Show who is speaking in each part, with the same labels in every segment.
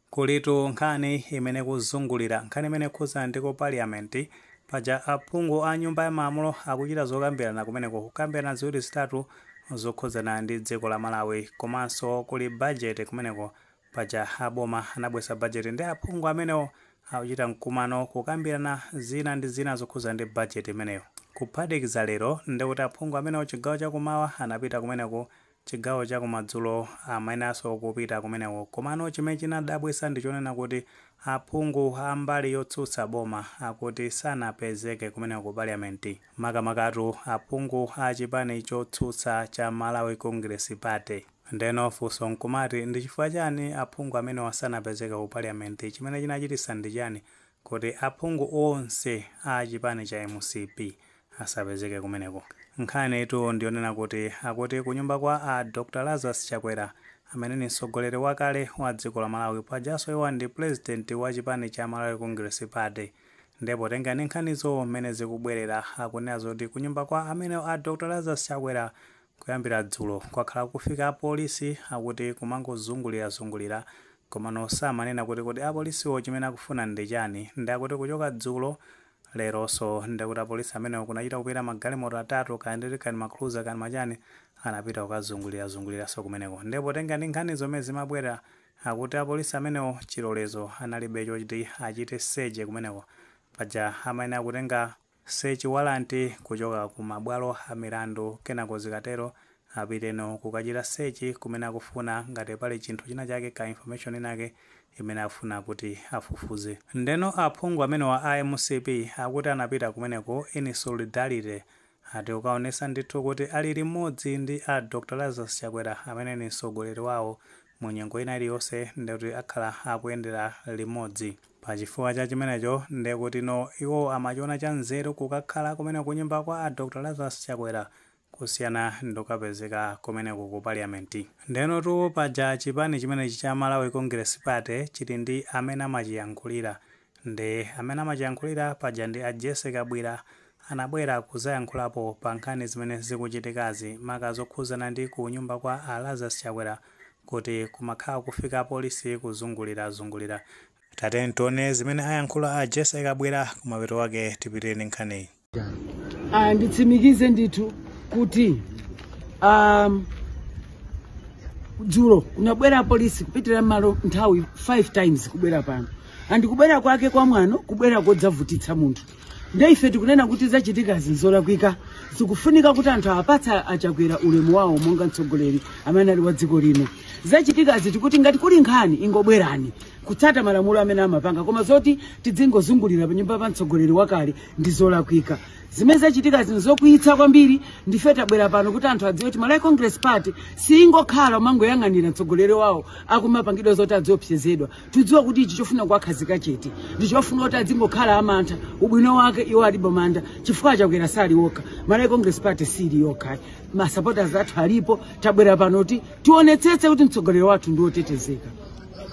Speaker 1: Kulitu nkhani imene ikuzungulira, nkhani imene ikukhudzana ndi ku Parliament. Paja aphungu a nyumba ya malamulo akuchita zokambirana kumeneko, kukambirana ziwiri zitatu zokhudzana ndi dziko la Malawi. Komanso kuli budget kumeneko. Paja a boma anabweretsa budget nde aphungu amenewo akuchita mkumano kukambirana zina ndi zina zokhudzana ndi budget imeneyo. Kuphatikiza lero, ndekuti aphungu amenewo chigawo cha kummawa anapita kumeneko chigawo cha kumadzulo amayeneranso kupita kumeneko. Komano chimene chadabwitsa ndi chonena kuti aphungu a mbali yotsutsa boma akuti sanapezeke kumeneko ku parliament. Makamakatu aphungu a chipani chotsutsa cha Malawi Congress Party. Ndeno funso nkumati ndi chifukwa chani aphungu amenewa sanapezeke ku parliament? Chimene chinachititsa ndi chani kuti aphungu onse a chipani cha mcp asapezeke kumeneko. Nkhanitu ndiyonena kuti akuti kunyumba kwa a Dr Lazarus Chakwera amene ndi mtsogoleri wakale wa dziko la Malawi pajanso iwo ndi pulezidenti wa chipani cha Malawi Congress Party nde potengera ndi nkhanizo mmene zikubwelera akunena zoti kunyumba kwa amenewo a Dr Lazarus Chakwera kuyambira dzulo kwakhala kukufika apolisi akuti kumangozungulirazungulira komano samanena kuti kodi apolisiwo chimene akufuna ndi chani nde akuti kuchoka dzulo leroso nde kuti apolisi amenewo kunachita kupita magalimoto atatu kaya ndi kani ma cruiser kani machani anapita kukazungulira zunguliraso kumeneko nde potenga ndi nkhanizo mmene zimabwera akuti apolisi amenewo chilolezo analibe chochti achite seche kumeneko paja amayenera kutenga sechi walanti kuchoka ku mabwalo a milandu kenako zikatero Apiteno kukachita search kumene akufuna ngati pali chinthu china chake ka information inayake imene akufuna kuti afufuze. Ndeno aphungu amenewa a mcp akuti anapita kumeneko in solidarity ati kukaonesa ndithu kuti ali limodzi ndi a Dr Lazarus Chakwera amene ndi msogoleri wawo mu nyengo ina iliyonse ndekuti akhala akuyendera limodzi. Pachifukwa cha chimenecho ndekuti tino iwowo amachiona cha nzeru kukakhala kumeneko kunyumba kwa a Dr Lazarus Chakwera kusiyana ndikukapezeka kumeneko ku parliament. Ndenotu paja chipani chimenechi cha Malawi Congress Party chili ndi amene amachiyankhulira, nde amene amachiyankhulira paja ndi a Jessy Kabwira anabwera kuzayankhulapo pa nkhani zimene zikuchitikazi maka zokhuzana ndi ku nyumba kwa a Lazarus Chakwera kuti kumakhala kukufika apolisi kuzungulira zungulira. Tatiyeni tione zimene ayankhula a Jessy Kabwira kumapeto kwake tipitirire ndi nkhaniyi. Ah, nditsimikize ndithu kuti um, dzulo kunabwera apolisi kupitira mmalo nthawi 5 times kubwera pano and kubwera kwake kwa mwano kubwera kodzavutitsa munthu nde ife tikunena kuti zachitikazi nzolakwika zikufunika kuti anthu awapatse achakwera ulemu wawo monga mtsogoleri amene ali wa dziko lino zachitikazi tikuti ngati kuli nkhani ingobwerani kutsata malamulo amene amapanga koma zoti tidzingozungulira panyumba pa mtsogoleri wakale ndi zolakwika zimene zachitika zino zokwiyitsa kwambiri ndife tabwera pano kuti anthu adziwe kuti malawi congress party siyingokhala umangoyang'anira mtsogoleri wawo akumapangidwa zoti adziopsezedwa tikudziwa kuti ichi chofuna kuwakhazika chete ndi chofuna kuti adzingokhala amantha ubwino wake iwo alibe mantha chifukwa chakwera sali okha malawi congress party sili okha masupporters athu alipo tabwera pano kuti tionetsetse kuti mtsogoleri wathu ndi wotetezeka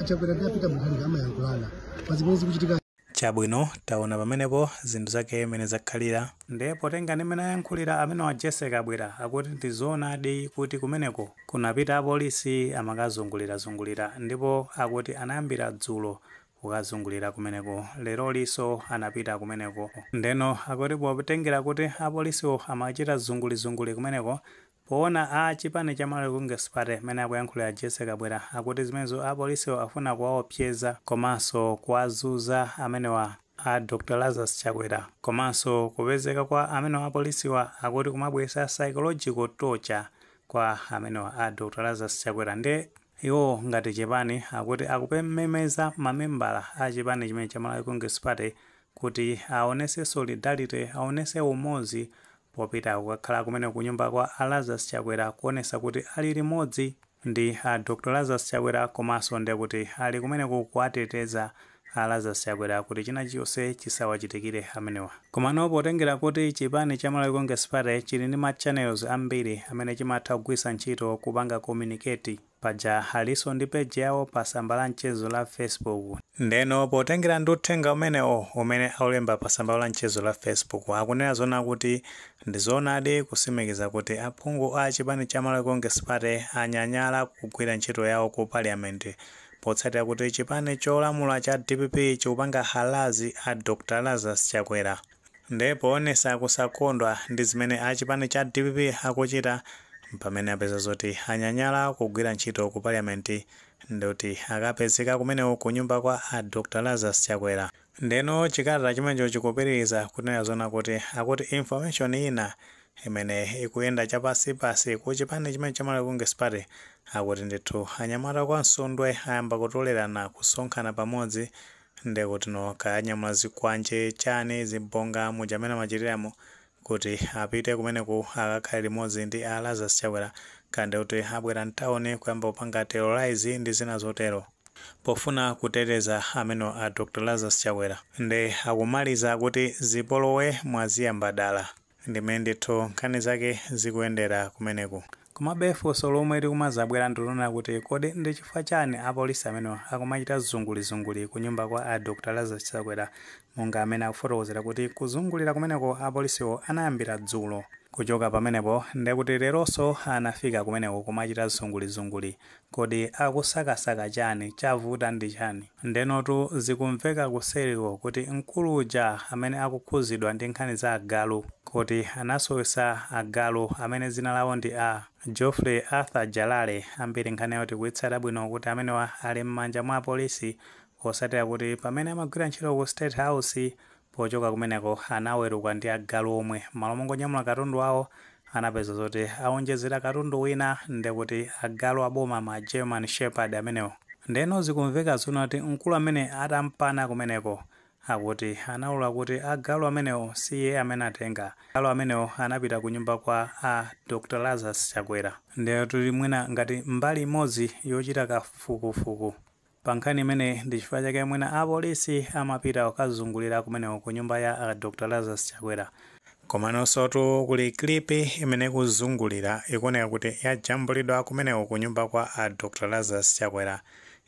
Speaker 1: achakwera ndapita mukhalika amayankhula pazimene zikuchitika Chabwino, taona pamenepo zinthu zake mmene zakhalira. Nde potengera ndi mmene ayankhulira amenewa a Jessie Kabwila akuti ndi zoonadi kuti kumeneko kunapita apolisi amakazungulira zungulira ndipo akuti anayambira dzulo kukazungulira kumeneko lerolinso anapita kumeneko ndeno akuti potengera kuti apolisiwo amachita zunguli zunguli kumeneko Poona a chipani cha Malawi Congress Party mmene akuyankhulira a Jessie Kabwila akuti zimenezo apolisiwa akufuna kuwaopseza komanso kuwazuza amenewa a Dr Lazarus Chakwera komanso kupezeka kwa amenewa apolisiwa akuti kumabweretsa psychological torture kwa amenewa a Dr Lazarus Chakwera nde Iwo ngati chipani akuti akumemeza ma membala a chipani chimenechi cha Malawi Congress Party kuti awonese solidarity, awonese umodzi popita kukakhala kumeneko kunyumba kwa a Lazarus Chakwera kuonesa kuti ali limodzi ndi a Dr Lazarus Chakwera komanso ndikuti ali kumeneko kuwateteza A Lazarus Chakwera kuti china chilichonse chisawachitikire amenewa. Komano potengera kuti chipani cha Malawi Congress Party chili ndi ma channels ambiri amene chimatha kugwiritsa ntchito kupanga communicate, paja alinso ndi page yawo pa tsamba la mchezo la Facebook, ndeno potengera ndi uthenga umenewo umene akulemba pa tsamba lawo la mchezo la Facebook, akunena zoona kuti ndi zoonadi kusimikiza kuti aphungu a chipani cha Malawi Congress Party anyanyala kugwira ntchito yawo ku Parliament, Potsatira kuti chipani cholamula cha dpp chikupanga harass a Dr Lazarus Chakwera nde poonesa kusakondwa ndi zimene a chipani cha dpp akuchita mpamene apeza zoti anyanyala kugwira ntchito ku parliament ndikuti akapezeke kumeneko ku nyumba kwa a Dr Lazarus Chakwera. Ndeno chikalata chimenecho chikupitiliza kunena zoona kuti akuti information ina imene ikuyenda chapansipansi ku chipani chimene cha Malawi Congress Party akuti ndithu anyamata kwa Msundwe ayamba kutolerana kusonkhana pamodzi ndekutino kaya anyamula zikwanje chani zibonga muja amene amachitiramo kuti apite kumeneku akakhale limodzi ndi a Lazarus Chakwera kaya ndekuti abwera mtawuni kuyamba kupanga terrorize ndi zina zotero pofuna kuteteza amene a Dr. Lazarus Chakwera nde akumaliza kuti zipolowe mwaziyamba dala. Ndi mmene ndithu nkhani zake zikuyendera kumeneko. Komabe funso lomwe likumazabwera ndilonena kuti kodi ndi chifukwa chani a polisi amenewa akumachita zungulizunguli ku nyumba kwa a Dr Lazarus Chakwera monga amene akufotokozera kuti kuzungulira kumeneko a polisiwo anayambira dzulo. Kuchoka pamenepo ndekuti leronso anafika kumeneko kumachita zungulizunguli Kodi akusakasaka chani? Chavuta ndi chani? Ndenotu zikumveka kuseriko kuti mkulu uja amene akukhuzidwa ndi nkhani za agalu kuti anasowesa agalu amene dzina lawo ndi a Godfrey Arthur Jalale ambiri nkhani yawo tikuitsata bwino kuti amenewa ali mmanja mwa apolisi posatira kuti pamene amagwira ntchito ku state house Pochoka kumeneko anaweruka ndi agalu omwe, mmalo mongonyamula katundu wawo anapeza zoti awonjezera katundu wina ndekuti agalu aboma ma German Shepherd amenewo. Ndeno zikumveka zoona kuti mkulu amene atampana kumeneko akuti anaulula kuti agalu amenewo si iye amene atenga, agalu amenewo anapita kunyumba kwa a Dr Lazarus Chakwera. Ndeno ili mwina ngati mbali imodzi yochita kafukufuku Pa nkhani imeneyi ndi chifukwa chake mwina a polisi amapita kukazungulira kumeneko ku nyumba ya a Dr Lazarus Chakwera. Komanosotu kuli clip imene ikuzungulira ikuoneka kuti yajambulidwa kumeneko ku nyumba kwa a Dr Lazarus Chakwera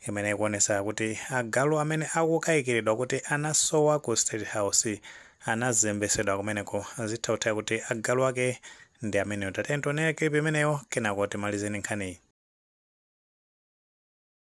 Speaker 1: imene ikuonetsa kuti agalu amene akukaikiridwa kuti anasowa ku State House anazembesedwa kumeneko. Zitha kutheka kuti agalu ake ndi amenewo. Tatiyeni tionere clip imeneyo kenako timalize ndi nkhaniyi.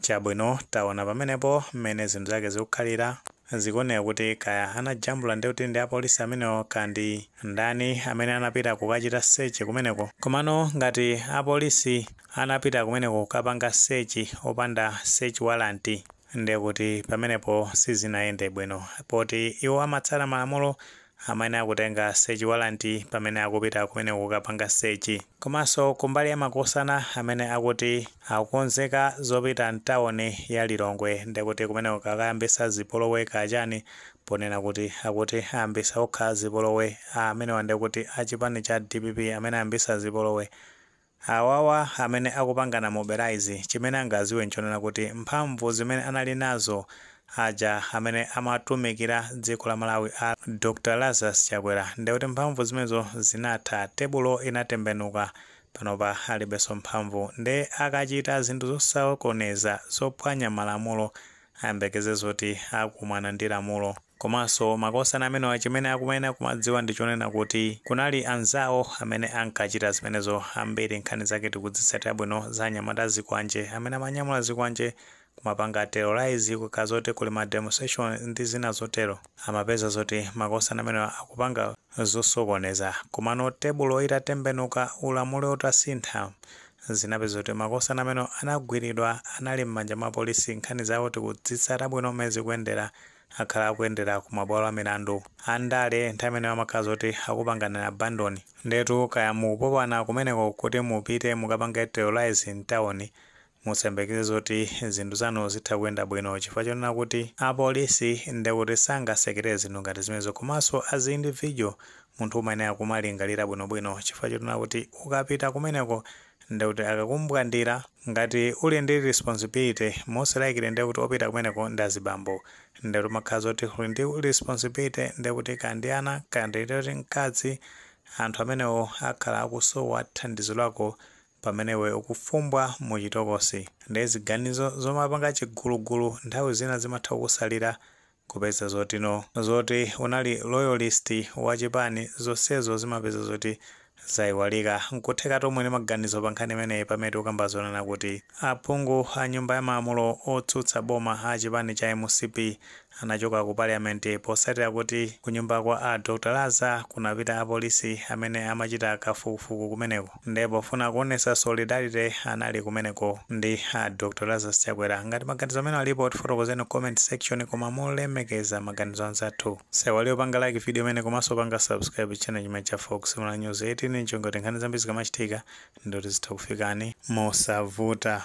Speaker 1: Chabwino, taona pamenepo mmene zinthu zake zikukhalira. Zikuoneka kuti kaya anajambula ndiye kuti ndi apolisi amenewo kaya ndi ndani amene anapita kukachita search kumeneko. Komano ngati apolisi anapita kumeneko kukapanga search opanda search warrant, ndiye kuti pamenepo sizinayende bwino poti iwo amatsata malamulo amayenera kutenga sechi walanti pamene akupita kumeneko kukapanga sechi. Komanso kumbali ya makosana amene akuti akukonzeka zopita mtawuni ya Lilongwe ndekuti kumeneko akakayambisa zipolowe kaya chani ponena kuti akuti ayambisa okha zipolowe amenewa ndekuti a chipani cha dpp amene ayambisa zipolowe Awawa amene akupangana mobilize chimene angaziwe nchonena kuti mphamvu zimene anali nazo aja amene amatumikira dziko la Malawi a Dr Lazarus Chakwera ndekuti mphamvu zimenezo zinatha tebulo inatembenuka panopa alibeso mphamvu nde akachita zinthu zosokoneza zophwanya malamulo ayembekeze zoti akumana ndi lamulo. Komanso makosana amenewa chimene akumayenera kumadziwa ndi chonena kuti kunali anzawo amene ankachita zimenezo. Ambiri nkhani zake tikuzitsata bwino za anyamata a zikwanje amene amanyamula zikwanje kumapanga terrorize kukakhala zoti kuli ma demonstration ndi zina zotero. Amapeza zoti makosana amenewa akupanga zosokoneza. Komano tebulo itatembenuka, ulamuliro utasintha, zinapezeka kuti makosana amenewa anagwidwa, anali m'manja mwa polisi. Nkhani zawo tikuzitsata bwino mmene zikuyendera. akhala akuyendera ku mabwalo amilandu. Andale nthawi imeneyo amakhala zoti akupanganinso abandon. Ndiyetu kaya mukupopana kumeneko kuti mupite mukapange terrorise m'tauni, musayembekeze zoti zinthu zanu zitha kuyenda bwino chifukwa chonena kuti apolisi ndiye kuti sangasekerere zinthu ngati zimenezo. Komanso as individual, munthu umayenera kumalingalira bwinobwino chifukwa chonena kuti ukapita kumeneko ndekuti akakumbwandira ngati uli ndi responsibility most likely ndekuti opita kumeneko ndi azibambo ndekuti umakhala zoti uli ndi responsibility ndekuti kaya ndi ana kaya ndikuti mkazi anthu amenewo akhala akusowa thandizo lako pamene iwe ukuvumbwa mu chitokosi ndiye ziganizo zomapanga chigulugulu nthawi zina zimatha kukusalira Kupeza zotino zoti unali loyalist wa chipani zonsezo zimapeza zoti zaiwalika. Nkutheka tonse tili ndi maganizo pa nkhani imeneyi pamene tikukamba zonena kuti aphungu a nyumba ya malamulo otsutsa boma a chipani cha mcp anachoka ku parliament potsatira kuti kunyumba kwa a Dr Laza kunapita apolisi amene amachita kafukufuku kumeneko. nde pofuna kuonesa solidarity anali kumeneko ndi a Dr Lazarus Chakwera ngati maganizo amene alipo tifotokozeni ku comment section koma molemekeza maganizo a anzathu osaiwala kupanga like video imeneyi komanso kupanga subscribe channel chimenechi cha Fox Malawi News 18 ncholinga choti nkhani zambiri zikamachitika ndekuti zitha kukufikani mosavuta